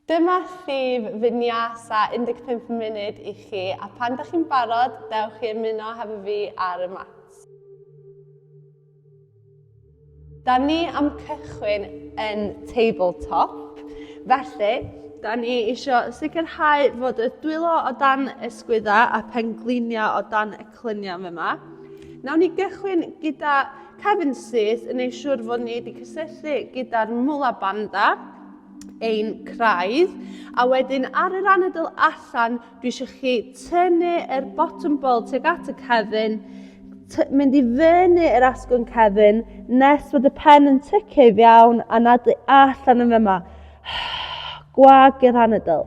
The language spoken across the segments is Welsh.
Dyma llif Vinyasa 15 munud i chi a pan da chi'n barod, dewch i ymuno hefo fi ar y mat. Da ni am cychwyn yn tabletop, felly da ni eisiau sicrhau fod y dwylo o dan ysgwydda a pengliniau o dan y clynion fe yma. Nawn ni gychwyn gyda Kevin Sears yn ei siwr fod ni wedi cysylltu gyda'r Mula Banda ein craidd. A wedyn ar yr anadl allan, dwi eisiau chi tynnu yr bottom ball tuag at y cefn, mynd i fyny yr asgwrn cefn, nes bod y pen yn tyceu iawn a nadlu allan yn fyma. Gwag yr anadl.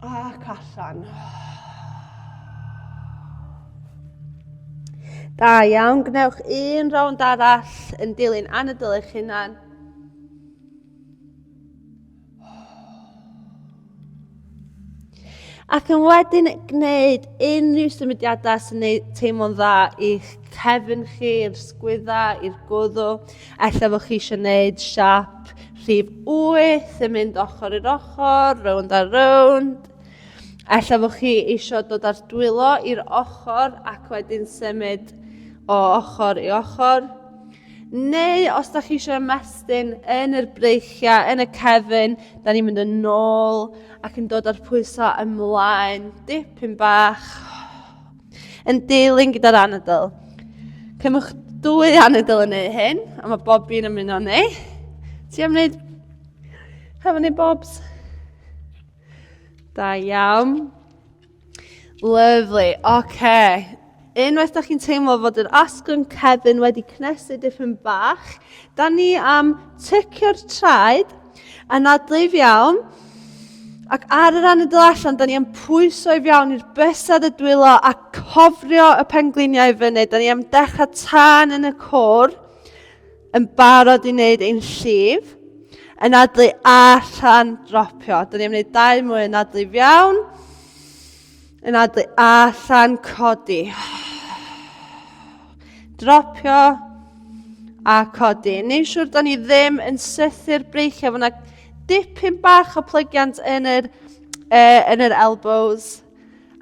Ac allan. Da iawn, gwnewch un rownd arall yn dilyn anadl eich hunan. Ac yn wedyn gwneud unrhyw symudiadau sy'n ei teimlo'n dda i'ch cefn chi, i'r sgwydda, i'r gwddw. Ella fod chi eisiau gwneud siap rhif 8 yn mynd ochr i'r ochr, rownd a rownd. Ella fod chi eisiau dod â'r dwylo i'r ochr ac wedyn symud o ochr i ochr. Neu os da chi eisiau ymestyn yn yr breichiau, yn y cefn, da ni'n mynd yn ôl ac yn dod â'r pwysau ymlaen, dipyn bach, yn deilyn gyda'r anadl. Cymwch dwy anadl yn ei hyn, a mae bob un yn mynd o'n ei. Ti am wneud hefo ni bobs? Da iawn. Lyfli, oce. Unwaith dach chi'n teimlo fod yr asgwrn cefn wedi cnesu dipyn bach, da ni am tycio'r traed, anadlu'n iawn, ac ar yr anadl allan, da ni am pwyso i fiawn i'r bysedd y dwylo a cofrio y pengliniau i fyny. Da ni am dechrau tan yn y cwr. yn barod i wneud ein llif, yn adlu allan dropio. Dyn ni'n gwneud dau mwy yn adlu fiawn, yn adlu allan codi. Dropio a codi. Neu siwr dyn ni ddim yn sythu'r breichiau. Fyna dipyn bach o plygiant yn yr, uh, yn yr elbows.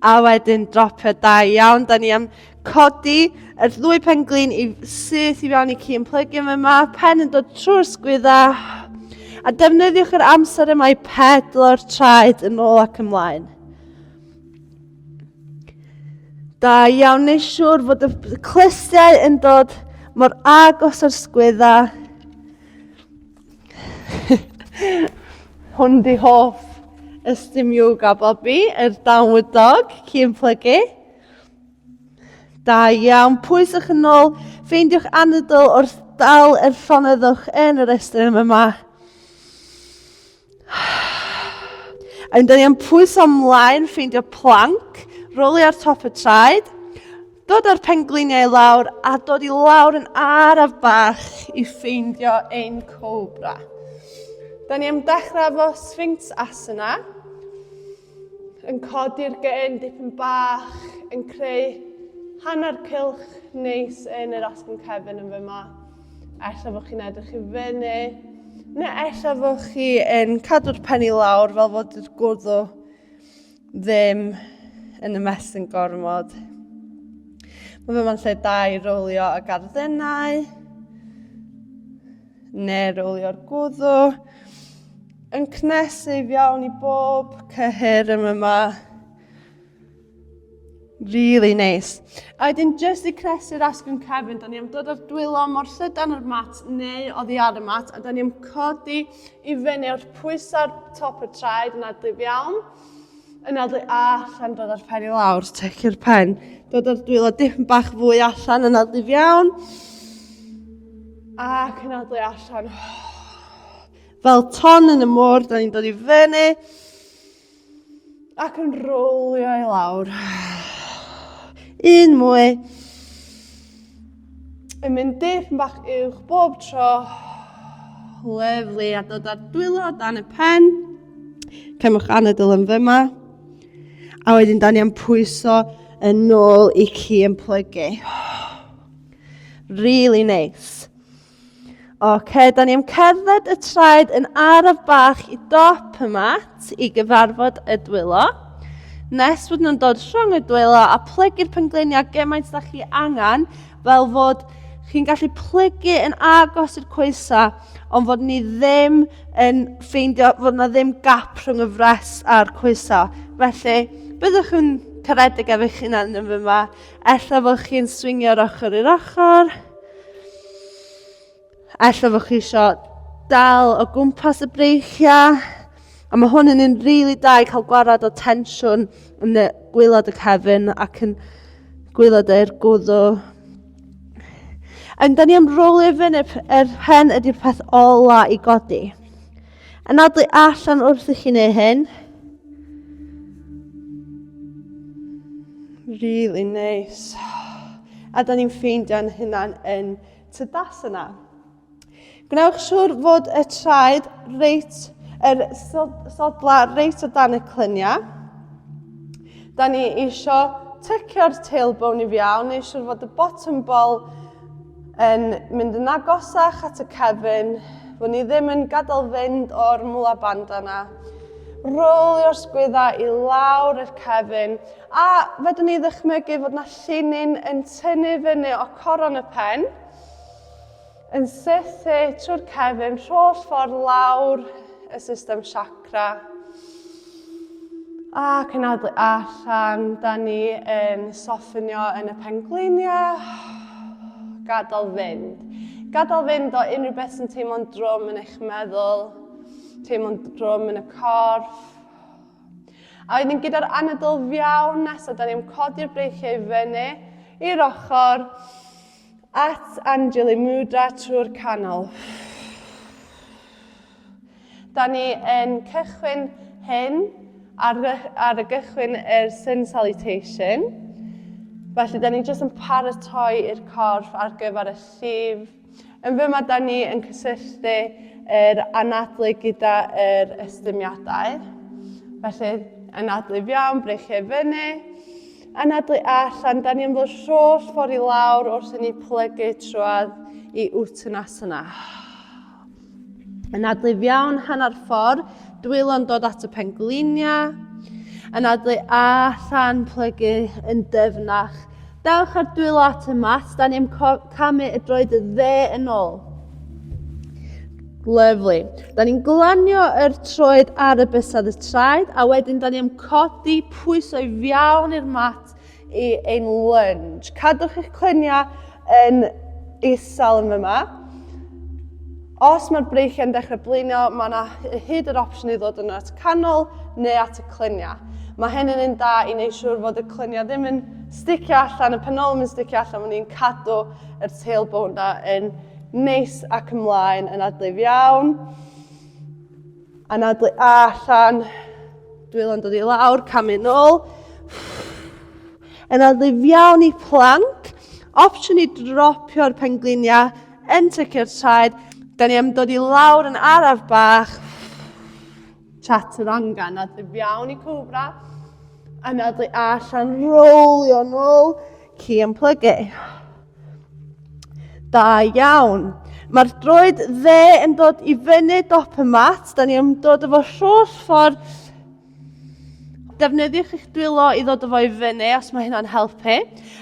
A wedyn dropio da iawn. Da ni am codi yr ddwy pen glin i syth i fewn i ci yn plygu yma. yma. Pen yn dod trwy'r sgwydda. A defnyddiwch yr amser yma i pedlo'r traed yn ôl ac ymlaen. Da iawn, neu siŵr fod y clustiau yn dod mor agos o'r sgwydda. Hwn di hoff ystum yoga Bobby, yr downward dog, cyn plygu. Da iawn, pwy sy'ch yn ôl, ffeindiwch anadl wrth dal yr llonyddwch yn yr estyn yma. Yn dyn ni'n pwyso ymlaen ffeindio planc, roli ar top y traed, dod â'r pengliniau lawr a dod i lawr yn araf bach i ffeindio ein cobra. Da ni am dechrau efo Sphinx Asana. yn codi'r gen dipyn bach, yn creu hanner cylch neis yn yr asgwrn cefn yn fyma. Ella fod chi'n edrych i fyny, neu ella fod chi yn cadw'r pen i lawr fel fod yr gwddw ddim yn ymestyn gormod. Mae fyma'n lle da i rowlio y garddennau. neu rowlio'r gwddw, yn cnesyf iawn i bob cyhyr yma yma. Really nice. A wedyn jyst i cnesu'r asgwrn cefn, da ni am dod o'r dwylo mor llydan o'r mat neu oddi ar y mat, a da ni am codi i fyny o'r pwysau'r top y traed yna dyf iawn. yn adwy a allan dod â'r pen i lawr, teci'r pen, dod â'r dwylo dim bach fwy allan yn adwyf iawn, ac yn adwy allan. Fel ton yn y môr, da ni'n dod i fyny, ac yn rowlio i lawr. Un mwy. yn mynd dip yn bach uwch bob tro. Lyflu a dod ar dwylo dan y pen. Cymwch anadl yn fyma. A wedyn dan ni am pwyso yn ôl i chi yn plygu. Really nice. Oce, da ni am cerdded y traed yn araf bach i dop y mat i gyfarfod y dwylo. Nes bod nhw'n dod rhwng y dwylo a plygu'r pengleiniau gymaint da chi angen fel fod chi'n gallu plygu yn agos i'r coesa ond fod ni ddim yn ffeindio fod yna ddim gap rhwng y fres a'r coesa. Felly, byddwch yn caredig efo'ch hunan yn fyma Ella fod chi'n swingio o'r ochr i'r ochr. Ella fod chi eisiau dal o gwmpas y breichiau. A mae hwn yn un rili really da i cael gwarad o tensiwn yn y gwylod y cefn ac yn gwylod e'r gwddw. Yn da ni am roli fyny yr hen ydy'r peth ola i godi. Anadlu allan wrth i chi neu hyn. Really nice. A da ni'n ffeindio'n hynna'n yn tydas yna. Gwnewch siwr fod y traed reit, yr sodla reit o dan y clyniau. Da ni eisiau tycio'r tailbone i fiawn, neu siwr fod y bottom ball Yn mynd yn agosach at y cefn, fod ni ddim yn gadael fynd o'r mula band yna. Rolio'r sgwydda i lawr i'r cefn, a fedrwn ni ddychmygu fod yna llinyn yn tynnu fyny o coron y pen, yn sythu trwy'r cefn rholl ffordd lawr y system chakra. A cynadlu allan, da ni yn soffinio yn y pengliniau. Gadael fynd. Gadael fynd o unrhyw beth sy'n teimlo'n drwm yn eich meddwl, teimlo'n drwm yn y corff. A wedyn gyda'r anadl fiawn nesaf, da ni'n codi'r breichiau i fyny i'r ochr at Anjali Mudra trwy'r canol. Da ni yn cychwyn hyn ar, ar y gychwyn yr Sun Salutation. Felly, da ni jyst yn paratoi i'r corff ar gyfer y llif. Yn fy mae da ni yn cysylltu yr anadlu gyda yr ystymiadau. Felly, anadlu fiawn, breichiau fyny. Anadlu allan, da ni yn fod rholl ffordd i lawr wrth i ni plygu trwad i Uttanasana. Yn adlu iawn hanner ffordd, dwylo'n dod at y pengliniau. Yn adlu a llan plygu yn dyfnach. Dewch ar dwylo at y mat, da ni am camu y droed y dde yn ôl. Lyflu. Da ni'n glanio yr troed ar y bysedd y traed a wedyn da ni am codi pwysau fiawn i'r mat i ein lunge. Cadwch eich clyniau yn isel yn fyma. Os mae'r breichiau'n dechrau blino, mae yna hyd yr opsiwn i ddod yn at canol neu at y clyniau. Mae hyn yn un da i wneud siŵr fod y clyniau ddim yn sticio allan, y penolwm yn sticio allan, mae ni'n cadw y tailbone na yn neis ac ymlaen yn adlif iawn. Anadlu allan. Dwylo'n dod i lawr, camu nôl. Anadlu fiawn i plank. Opsiwn i dropio'r pengliniau yn tycio'r traed. Da ni am dod i lawr yn araf bach. Chaturanga, anadlu fiawn i cobra. Anadlu allan, rolio nôl. Key and plug it. Da iawn. Mae'r droed dde yn dod i fyny dop y mat. Da ni am dod efo holl ffordd. Defnyddiwch eich dwylo i ddod efo i fyny os mae hynna'n helpu.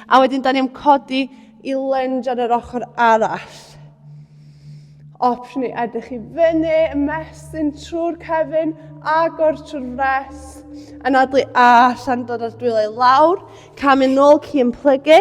A wedyn da ni am codi i lunge ar yr ochr arall. Opsiwn i edrych i fyny, ymestyn trwy'r cefn, agor trwy'r fres, anadlu allan, dod o'r dwylo i lawr, camu nôl, ci yn plygu.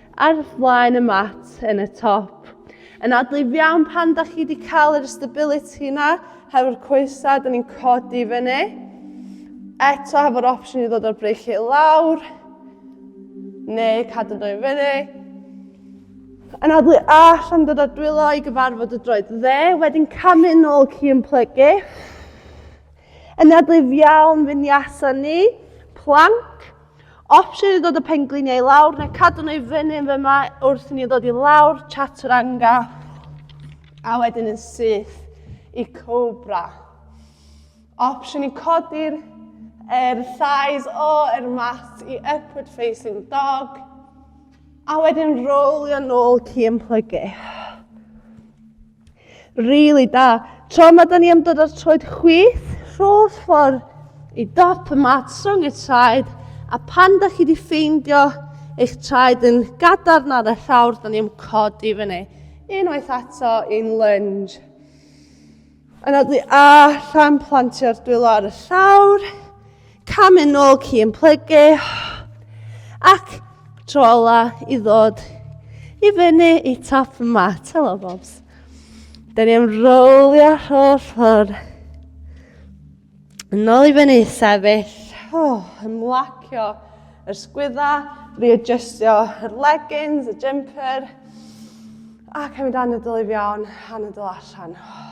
Ar flaen y mat yn y top. Yn adlif iawn pan da chi wedi cael yr stability yna, hefo'r coesau, da ni'n codi fyny. Eto hefo'r opsiwn i ddod o'r breic i lawr, neu cadw dwy fyny. Yn adlu allan dod o'r dwylo i gyfarfod y droed dde, wedyn camu nôl ci yn plygu. Yn adlif iawn fynd i asan ni, plank. Opsiwn i ddod y pengliniau i lawr neu cadw nhw i fyny yn fyma wrth i ni ddod i lawr chaturanga a wedyn yn syth i cobra. Opsiwn i codi'r er thighs o er mat i upward facing dog a wedyn rolio nôl ci yn plygu. Rili da. Tro yma da ni am dod ar troed chwith, rho'r ffordd i dop y mat, song y traed, a pan da chi wedi ffeindio eich traed yn gadarn ar y llawr, da ni am codi fyny. Unwaith ato i'n lunge. Yna dwi allan, plantio'r dwylo ar y llawr, Cam yn ôl ci yn plygu ac tro ola i ddod i fyny i top y mat. Helo, Bobs. Da ni am rowlio holl ffordd. Yn ôl i fyny, sefyll. Oh, ymlacio yr sgwydda, readjustio yr leggings, y jumper. Ac am i dan y dylu fi iawn, anadol allan. Oh.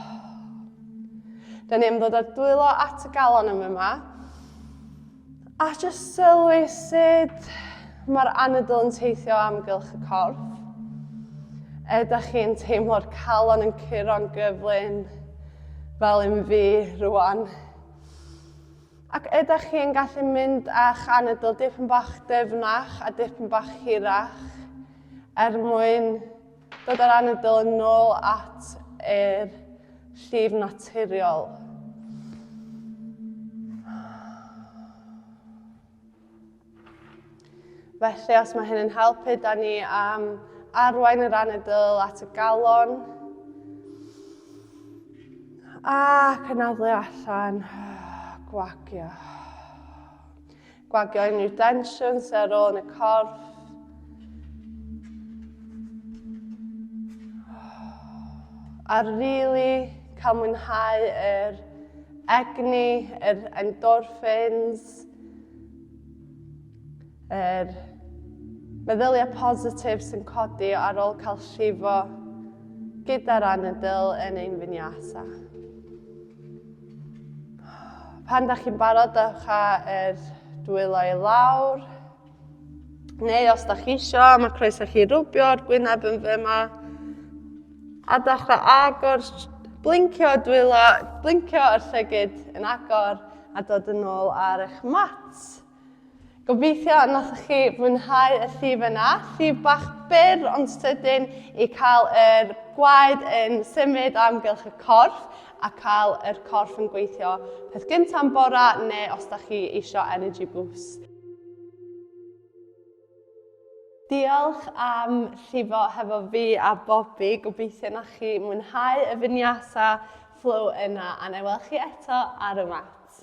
Da ni am ddod ar dwylo at y galon yn yma. A jyst sylwi sut mae'r anadl yn teithio amgylch y corff. Ydych chi'n teimlo'r calon yn curo'n gyflym fel un fi rwan. Ac ydych chi'n gallu mynd â'ch anadl dipyn bach dyfnach a dipyn bach hirach er mwyn Dod â'r anadl yn nôl at yr llif naturiol. Felly, os mae hyn yn helpu, da ni am arwain yr anadl at y galon. Ac anadlu allan, gwagio. Gwagio unrhyw densiwn sy'n ar ôl yn y corff. A rili really cael mwynhau yr egni, yr endorphins, yr meddyliau positif sy'n codi ar ôl cael llifo gyda'r anadl yn ein finiasa. Pan da chi'n barod, dewch â'r dwylo i lawr. Neu os da chi isio, mae croeso chi rwbio'r gwyneb yn fe yma. A dewch â agor, blincio dwylo, blincio yr llygyd yn agor a dod yn ôl ar eich mat. Gobeithio y nathoch chi fwynhau y llif yna. Llif bach byr ond sydyn i cael yr gwaed yn symud o amgylch y corff a cael yr corff yn gweithio peth gyntaf yn bora neu os da chi eisiau energy boost. Diolch am llifo hefo fi a Bobi, gobeithio na chi mwynhau y finiasa flow yna a na i weld chi eto ar y mat.